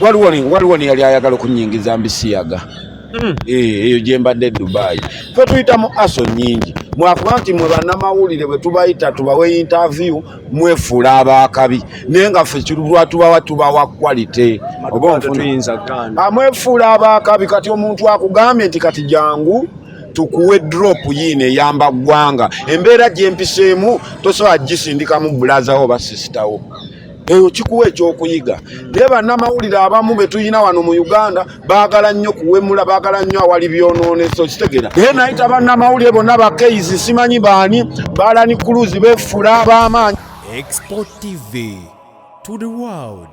waliwo ne- waliwo ne yali ayagala okunyingiza mbisiyaga Mm. Eh, eyo gye mbadde dubayi fe tuyita mu aso nyingi mwakuba nti mwe bannamawulire bwe tubayita tubawe interview mwefuula abaakabi naye nga ffe kirulwa tubawa tubawa quality oba onfuna tetuyinza gaana amwefuula abaakabi kati omuntu akugambye nti kati jangu tukuwe drop yiino eyamba ggwanga embeera gyempiseemu tosobola gisindikamu bulazawo oba sisitawo eyo kikuwa ekyokuyiga naye bannamawulire abamu betulina wano mu uganda baagala nnyo kuwemula baagala nnyo awali byonooneso kitegera naye nayita bannamawulire bonna bakeizi simanyi baani baalani kuluzi befuula ab'amaanyi export tv to the world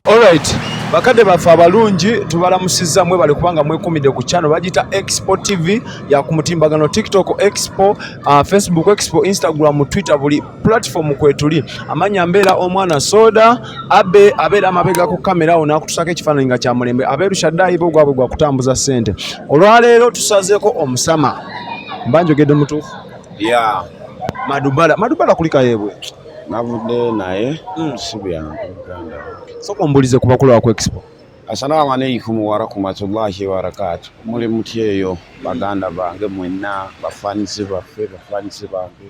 Alright, bakadde baffe abalungi tubalamusizza mwebale kubanga mwekumidde ku channel bagiyita Expo TV ya ku mutimbagano TikTok Expo, uh, Facebook Expo, Instagram, Twitter buli platform kwetuli amanya mbeera omwana soda abe abeera amabega ku kamera awo nakutusako ekifaananyi nga kyamulembe abeerushaddayi bo gwabwe gwa kutambuza ssente olwaleero tusazeeko omusama mba njogedde mutuufu ya madubala madubala kulikayeebwe navudde naye hmm. sibyanuganda soka ombulize ku bakulu baku expo assalamu alaikum warahmatullahi wabarakatu muli mutyeyo baganda bange mwenna bafanisi baffe bafanisi bange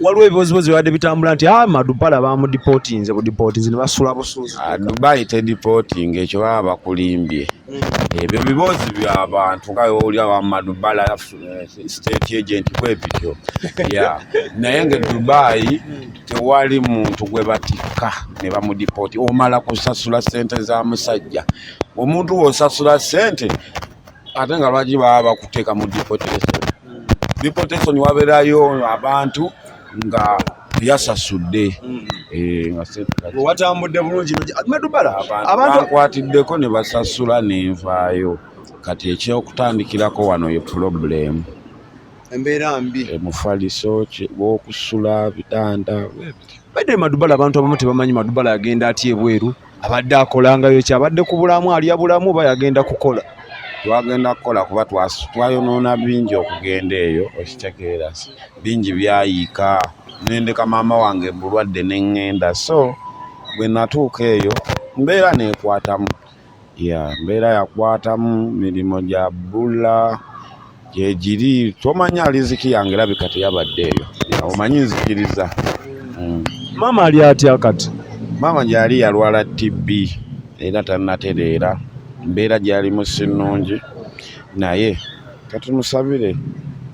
waliwo ebibozibozi bibadde bitambula nti ah, madupala bamudipotinze budipotinze nebasula busuuzi ah, dubai tedipotinga ekyo baba bakulimbye hmm. ebyo bibozi byabantu nga owulira wamadubala eh, state agent kwebityo naye nga dubai tewali muntu gwe batikka ne bamudipoti omala kusasula sente za musajja omuntu wosasula sente ate nga lwaki baba bakuteeka mu deportation deportation waberayo abantu nga yasasudde mm. eh, watambudde bulungi bankwatiddeko ne basasula nenvaayo kati ekyokutandikirako wano ye pulobulemu embeera mbi eh, mufaliso wokusula bitanda bade madubala abantu abamu tebamanyi madubala agenda atya ebweru abadde akolangayo ki abadde ku bulamu alya bulamu oba yagenda kukola twagenda kukola kuba twayonoona bingi okugenda eyo okitegeera bingi byayiika nendeka maama wange bulwadde neŋŋenda so bwe natuuka eyo mbeera neekwatamu ya mbeera yakwatamu mirimu gya bbula gyegiri tomanya aliziki yange erabika teyabadde eyo omanyi nzikiriza mm. maama ali atya kati maama gyali yalwala tb era tanatereera mbeera gyalimu sinungi naye kati musabire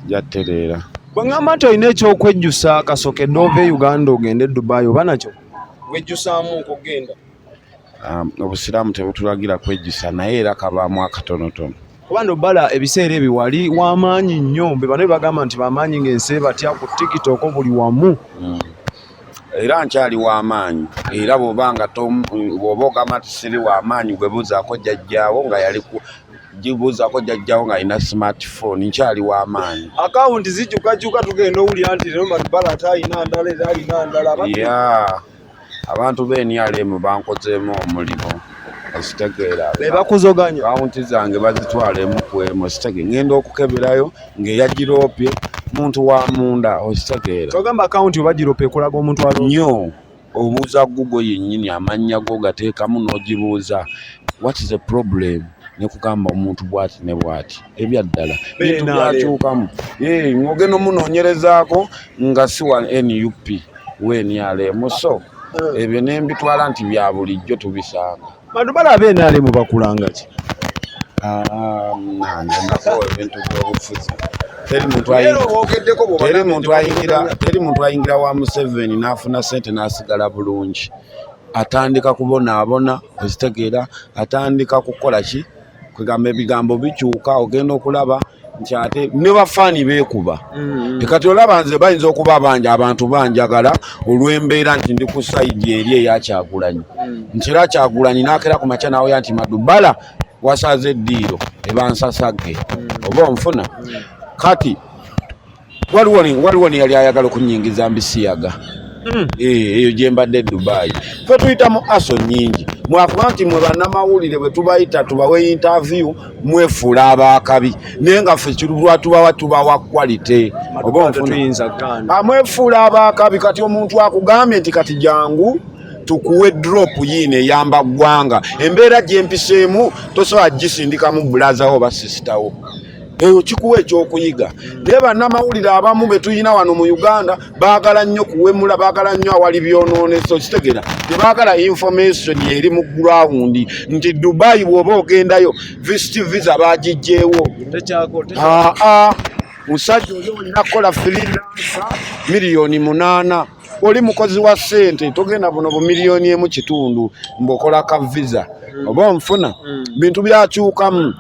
gyattereera bweŋamba nti olina ekyokwejjusa kasokedde ova e uganda ogende e dubai oba nakyo wejjusaamu okugenda um, obusiraamu tebutulagira kwejjusa naye era kabaamu akatonotono kuba no bala ebiseera ebyo wali w'amaanyi nnyo be bano bagamba nti bamaanyi ng'ensi ebatya ku tiktok buli wamu hmm. era nkyali w'amaanyi era bwoba nga bwoba ogamba nti siri w'amaanyi gwebuuzaako jjajjaawo nga yali gibuuzako jajjawo nga alina smartphone nkyali wamaanyi akawunti zijukajuka tugenda owulira nti lero matbala ate alina ndala era alina ndala abantu be NRM bankozeemu omulimu okitegeera bebakuzoganya kawunti zange bazitwalemu kwemu okitege ngenda okukeberayo ng'eyagiroopye muntu wa munda okitegeera kyogamba akawunti obagiroopye ekulaga omuntu al nyo obuuza gugo yennyini amannya go gateekamu n'ogibuuza what is a problem nekugamba omuntu bwati ne bwati ebyaddala bintu byakyukamu ng'ogenda omunoonyerezaako nga si wa nup wnrm so eh. ebyo ne mbitwala nti bya bulijjo tubisanga bantu balaba nrm bakulanga ki ah, ebintu byobufuzi teri muntu ayingira wa museveni n'afuna sente n'asigala bulungi atandika kubonaabona ozitegeera atandika kukola ki kwegamba ebigambo bikyuka ogenda okulaba nti ate ne bafaani beekuba mm-hmm. tekati olaba nze bayinza okuba bangi abantu banjagala olw'embeera nti ndi ku sayidi eri eyakyagulanyi mm. nti era kyagulanyi naakera ku makya nawoya nti madubala wasaze eddiiro ebansasagge mm. oba onfuna mm. kati waliwo neyali ayagala okunyingiza mbisiyaga hmm. eh, eyo gyembadde e dubayi fe tuyita mu aso nyingi mwakuba nti mwe banamawulire bwetubayita tubawe interview mwefuula abakabi naye nga fe lwatubawa tubawa quality ah, mwefuula abakabi kati omuntu akugambye nti kati jangu tukuwe drop yiino eyamba ggwanga embeera gyempiseemu tosobola gisindikamu bulazawo oba sisitawo eyo kikuwa ekyokuyiga naye bannamawulire abamu betulina wano mu uganda baagala nnyo kuwemula baagala nnyo awali byonooneso kitegera tebaagala information eri mu gurawundi nti dubayi bwoba ogendayo visit visa bagijjeewo aa musajja oli olina kukola firidansa miliyoni munaana oli mukozi wa sente togenda buno bumiliyoni emu kitundu mbokola ka visa hmm. oba onfuna hmm. bintu byakyukamu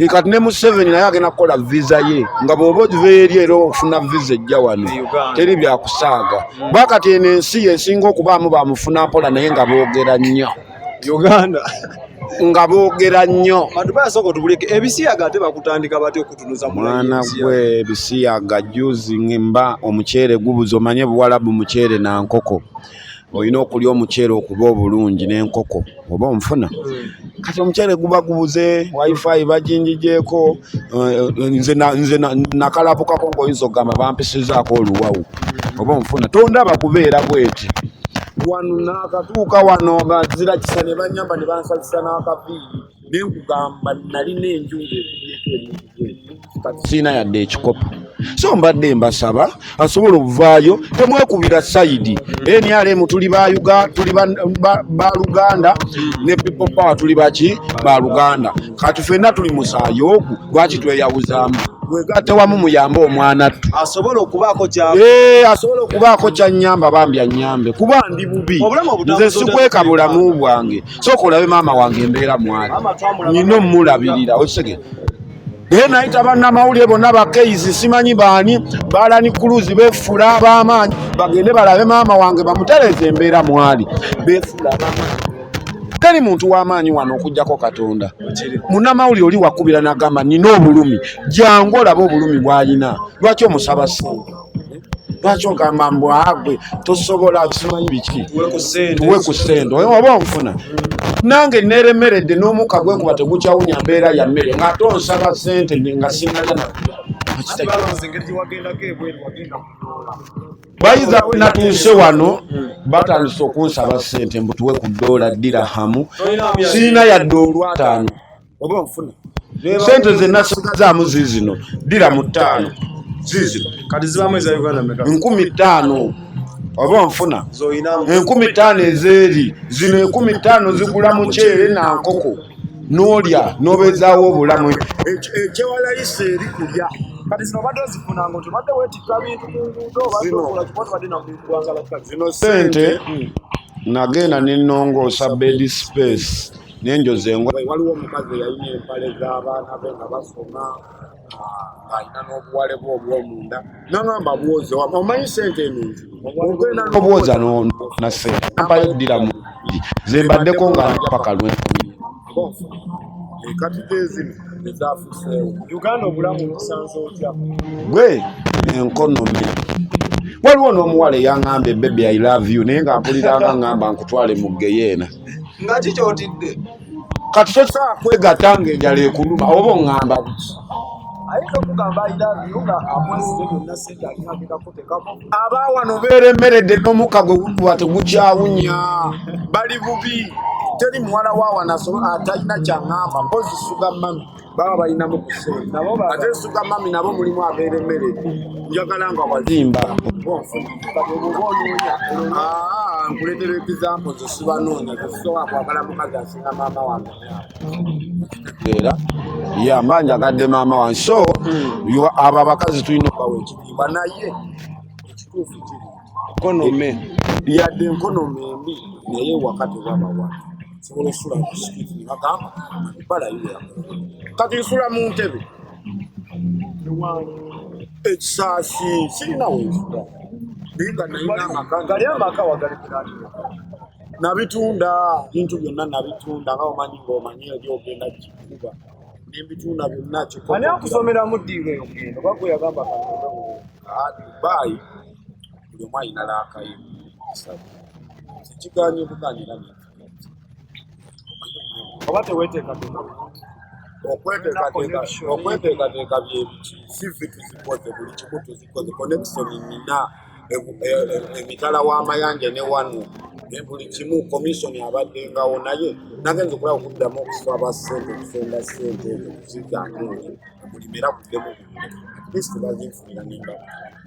kati ne museveni naye agenda kukola visa ye nga bwoba ogiveeri era ofuna visa ejja wano teri byakusaaga mm. bakati eno ensi yesinga okubaamu bamufuna mpola naye nga boogera nnyo uganda nga boogera nnyo mwana gwe ebisiyaga juzi mba omuceere gubuza omanye buwalabu muceere na nkoko olina okulya omuceere okuba obulungi n'enkoko oba onfuna hmm. kati omuceere guba gubuze wifi bajinjijeeko eh, nze nakalabukako ngaoyinza okugamba bampisizaako oluwawu hmm. oba onfuna tondaba kubeera bweti wano nakatuuka wano nga nzira kisa ne banyamba ne bansazisa n'akaviiri ne nkugamba nalina enjungu ekubyeko emuntu kati sirina yadde ekikopo so mbadde mbasaba asobola okuvaayo temwekubira sayidi nrm tuli tuli baluganda ne people power tuli baki baluganda kati fenna tuli musaayi ogu lwaki tweyawuzaamu wegatte wamu muyambe omwana ttu asobola okubaako kya eh, asobola okubaako kyanyamba bambi anyambe kuba ndi bubi nze sikweka bulamu bwange sooka olabe maama wange embeera mwali nyina omulabirira okisege naye nayita bannamawulire bonna bakeizi simanyi baani balani kuluzi befuula abamaanyi bagende balabe maama wange bamutereeza embeera mwali befuula abamaanyi teri muntu w'amaanyi wano okugyako katonda munnamawulire oli wakubira nagamba nina obulumi jangu olabe obulumi bwalina lwaki omusaba sente lwaki ogamba mbu agwe tosobola simanyi biki tuwe ku sente oyo oba onfuna nange neremeredde n'omuka gwekuba tegukyawunya mbeera ya mmere ngaate onsaba sente nga sinalya na bayiza wenatuuse wano batandise okunsaba sente mbutuwe ku doola ddira hamu siina yadde olwataano oba nfuna sente zenasigazaamu ziizino ddira mu ttaano ziizino kati zibamu eza uganda meka nkumi ttaano oba nfuna enkumi ttaano ezeeri zino enkumi ttaano zigula muceere na nkoko n'olya n'obeezaawo obulamu ekyewalayisa eri kulya kati zino obadde ozifuna nga otobadde wetikka bintu ku nguudo obaokola kiba tobadde nakuigwangala zino sente nagenda nenongoosa bed space nenjoza engo waliwo omukazi eyalina empale z'abaana be nga basoma ng'alina n'obuwale bwe obwomunda nangamba bwoze omanyi sente eno ogenda nobwoza nase ampayo ddira mu zembaddeko nga paka lwenkumi ekatide ezino ezafuseewo uganda obulamu obusanze otya gwe enkonomi waliwo n'omuwala eyangamba ebebi i love you naye nga mpuliranga ngamba nkutwale mu geyeena nga kikyotidde kati tosobola kwegatta nga enjala ekuluma oba oŋŋamba biki aba wano beeremeredde n'omukka gwe gukuba tegukyawunya bali bubi teri muwala wa wano atalina kyaŋŋamba mpozi suga mami baba balinamu ate suka mami nabo mulimu abeera emmere njagala nga wazimba nkuletera ekizambo zesibanoonya zesobola kwagala mukazi asinga maama wange era ya mba njagadde maama wange so hmm. abo abakazi tulina okubawa ekitiibwa naye ekituufu kiri nkonome yadde enkonome embi naye waka tewabawa sobola osula musikiti nagamba bala yula kati nsula mu ntebe ekisaasi sirina wensula naye nga nayina amaka gali amaka wagali kirani nabitunda bintu byonna nabitunda nga omanyi ngaomanyi eri ogenda kikuba nembitunda byonna kikoani akusomeramu ddiiro eyo genda oba gweyagamba kaadubayi buli omu alina laakayo sabo tekiganye buganira oba teweteekateeka okweteekateeka byebiki sivi tuzikoze buli kimu tuzikoze connection nina e, e, e, emitala w'amayanja ne wano buli kimu komisoni abaddengawo naye nagenza okulaba okuddamu okusaba sente okusonga sente ezo kuzizaamu omulimera kuddemu at least bazinfunira nembaga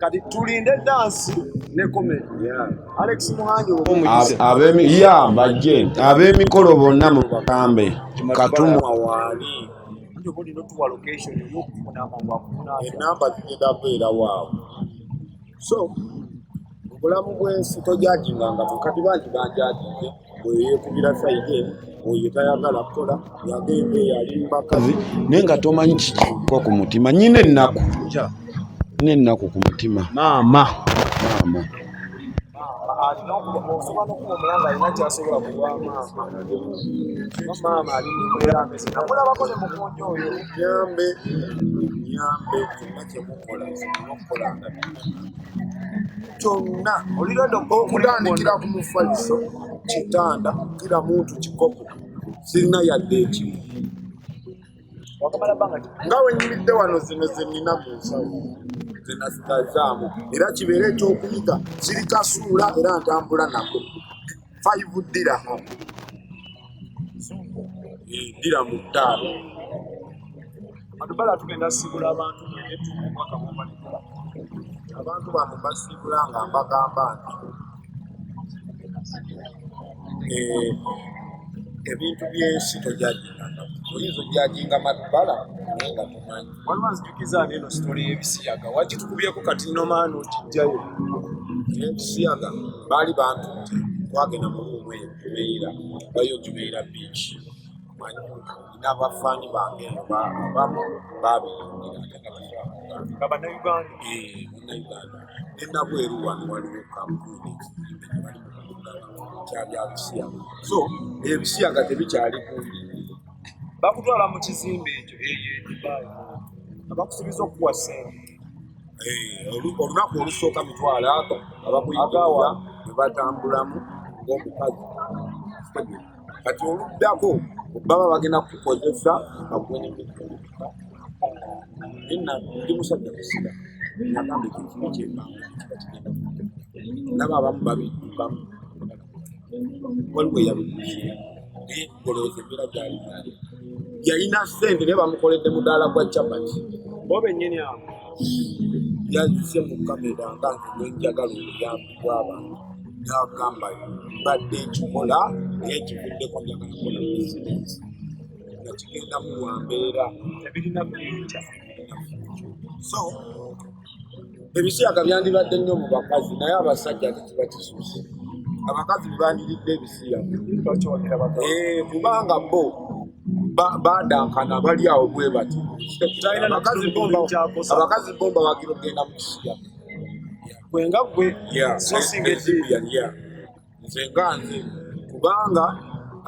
kati tulinde dansi ne komedi alex muhangi ab'emikolo bonna mu bakambe katumwa waali nyo buli notuwa location yokufunamangu akunaa enamba zigenda beera waawo so obulamu bwensi tojajinganga mukati bangi banjajinge oyo yekubira saide oyo tayagala kukola yagenda eyo ali mubakazi naye nga tomanyi kikikuba ku mutima nyina ennaku nyina ennaku ku mutima maama maama alina okusobola nokuba omulanga alina kyasobola kuwa maama ali mbeera mbese namulabako ne mukunja oyo nyambe nyambe kyemukola okukolanga kyonna okutandikira ku mufaliso kitanda kira muntu kikopo sirina yadde ekimu nga wenyimidde wano zino zenina mu nsawo zenazigazaamu era kibeere ekyokuyiga sirikasuula era ntambula nako five dirham dira mu ttaano atubala tugenda siibula abantu etuumwaka mumalikula abantu bano basiibula nga mbagamba nti eh, ebintu byensi tojaginga oyinza ojaginga matubala naye nga tumanyi waliwo anzijukiza nti eno sitole y'ebisiyaga wakitukubyeko kati nomaani okijjayo ebisiyaga baali bantu nti twagenda mu luumu eyo jubeira bayo jubeira beach manyi n'abafaani bange abamu baabiyingira nga bannayuganda bannayuganda ne nabweru wano waliwo kampuni kyabyabusiyaga so ebisiyaga tebikyali kumbi bakutwala mu kizimbe ekyo eyo edubaayi abakusubiza okukuwa sente eh, olunaku olusooka mitwalo ago abakuyigaawa ne batambulamu ng'omukazi kati oluddako baba bagenda kukukozesa ndi musajja kusiga nagamba ekyo kimu kyemanga nabo abamu babiddukamu waliwo eyabikuzi olowooza embeera gyali yalina sente naye bamukoledde mudaala gwa capati bo benyini awo yazze mu kamera nga ngenjagala obuyambi bw'abantu nagamba mbadde ekikola naye kivuddeko njagala kola bizinesi nga kigendamu wa mbeera ebirina buyinja so ebisiyaga byandibadde nnyo mu bakazi naye abasajja tekiba kisuuse abakazi bebandiridde ebisiyaga eh, kubanga bo badankana bali awo bwe bati abakazi bo mbawagira okugenda mu kisiyaga kwenga gwe sosinga ekibiya nze nga nze kubanga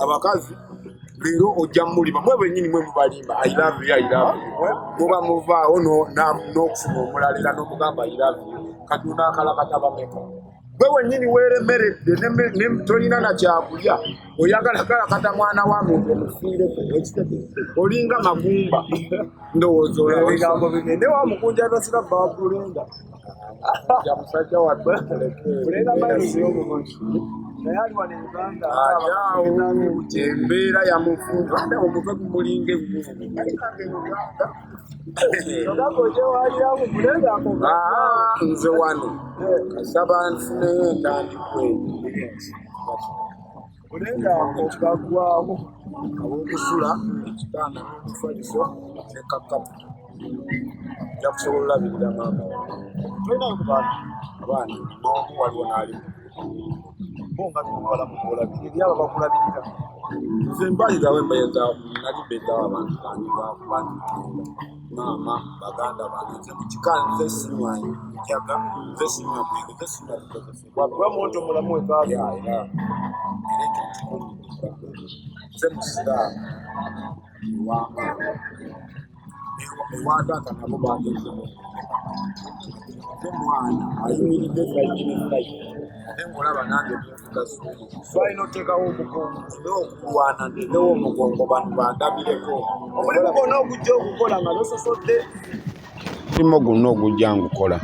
abakazi leero ojja mumulima mwe bwenyini mwe mubalimba muba muvaawo n'okufuna omulala era n'omugamba kati onaakalakata bameka gwe wenyini weeremeredde tolina na kyakulya oyagala kalakata mwana wa muntu omufiireko olinga magumba ndowooza ebigambo bigende wa mukunja nosira bbawakulenda musajja wattu embeera yamufunza omutwe gumulinga nze wano kasaba nfuneyo entandikwe Olenga okugagwawo aw'okusula ekitanda n'omufaliso ne kakapu nja kusobola olabirira maama tolinayo ku baana abaana n'omu waliwo n'ali bo nga bimuwala mukuolabirira eri abo bakulabirira nze mbalirawo embeeza nali mbeezawo abantu bange bakuba maama baganda bange nze mu kika nze sinywayo njaga nze sinywa mwenge nze sinywa wakuba muntu mulamu wekaaga era ekyo kikulidde nze musiraamu ewamaalo ewaataata nabo bageze ate mwana ayimiridde fayini fayini ate ngolaba nange nfuga suumu twalina oteekawo omugongo nina okulwana ndenewo omugongo bano bandabireko omulimu gwona ogujja okukola nga nososodde mulimo guno ogujja ngukola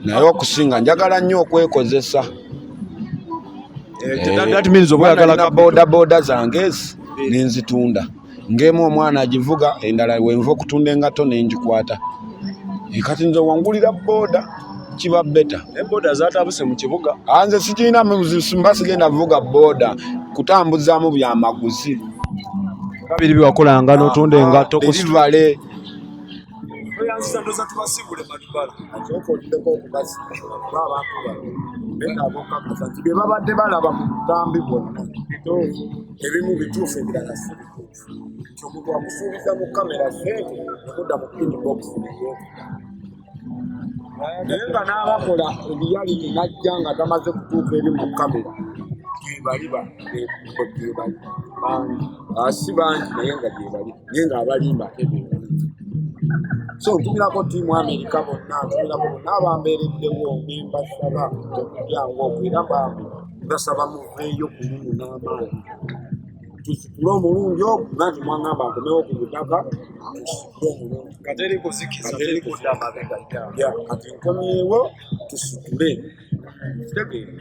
naye okusinga njagala nnyo okwekozesa eh, bodaboda zange ezi eh. nenzitunda ngemu omwana agivuga endala wenva okutunda engato nengikwata eh, kati nze wangulira boda kiba beta boda zatabuse mu kibuga ah, nze sikirina mba sigenda vuga boda kutambuzaamu byamaguzi kabiri biwakolanga notunda engato ah, oyanziza ndoza tubasibule madubala kyokoddeko okubazi ba abantu bano benabokakaza nti bye babadde balaba mu butambi bwonna bituufu ebimu bituufu ebirala si bituufu nti omuntu akusuubiza mu kamera sente okudda mu inbox naye nga n'abakola ebiyalini najja nga tamaze kutuuka eri mu kamera gyebaliba gyebali bangi ah, si bangi naye nga gyebali naye nga abalimba ate bebangi so ntumirako tiimu amerika bonna ntumirako bonna abambeereddewo nembasaba okujyangu okwo era bambi basaba muveeyo kulumu n'amaanyi tusitule omulungi ogwo nanti mwangamba akomewo ku butaka tusitule omulungi kateri kuzikiza teri kudda mabega ya kati nkomyewo tusitule kitegeera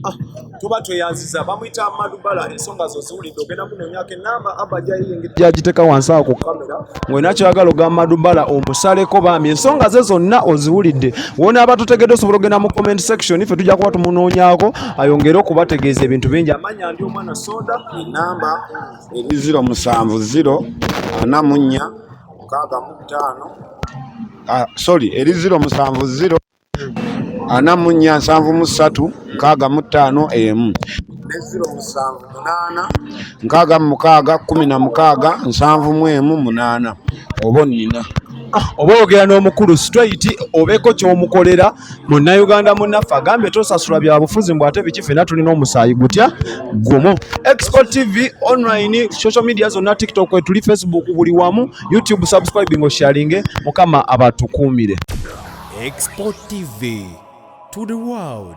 Ah, tuba tweyanziza bamuyita madubala ensonga zo ziwulidde ogenda munonyako enamba aba jayiyingiryagiteka wansi awo ku kamera ngolina kyagala ogamba madubala omusaleko bambi ensonga ze zonna oziwulidde wona aba tutegedde osobola ogenda mu comment section ffe tujja kuba tumunoonyako ayongere okubategeeza ebintu bingi amanya ndi omwana soda enamba eri ziro musanvu ziro ana munya mukaaga mu bitaano ah, sorry eri ziro musanvu ziro ana mu nnya nsanvu mu ssatu nkaaga mu ttaano emu neziro musanvu munaana nkaaga mu mukaaga kkumi na mukaaga nsanvu mu emu munaana oba onnina ah, oba oyogera n'omukulu straight obeeko ky'omukolera munnauganda munnaffe agambye tosasula bya bufuzi mbw ate biki fena tulina omusaayi gutya gumu export tv online social media zonna tiktok etuli facebook buli wamu youtube subscribing osharinge mukama abatukuumire Export TV to the world.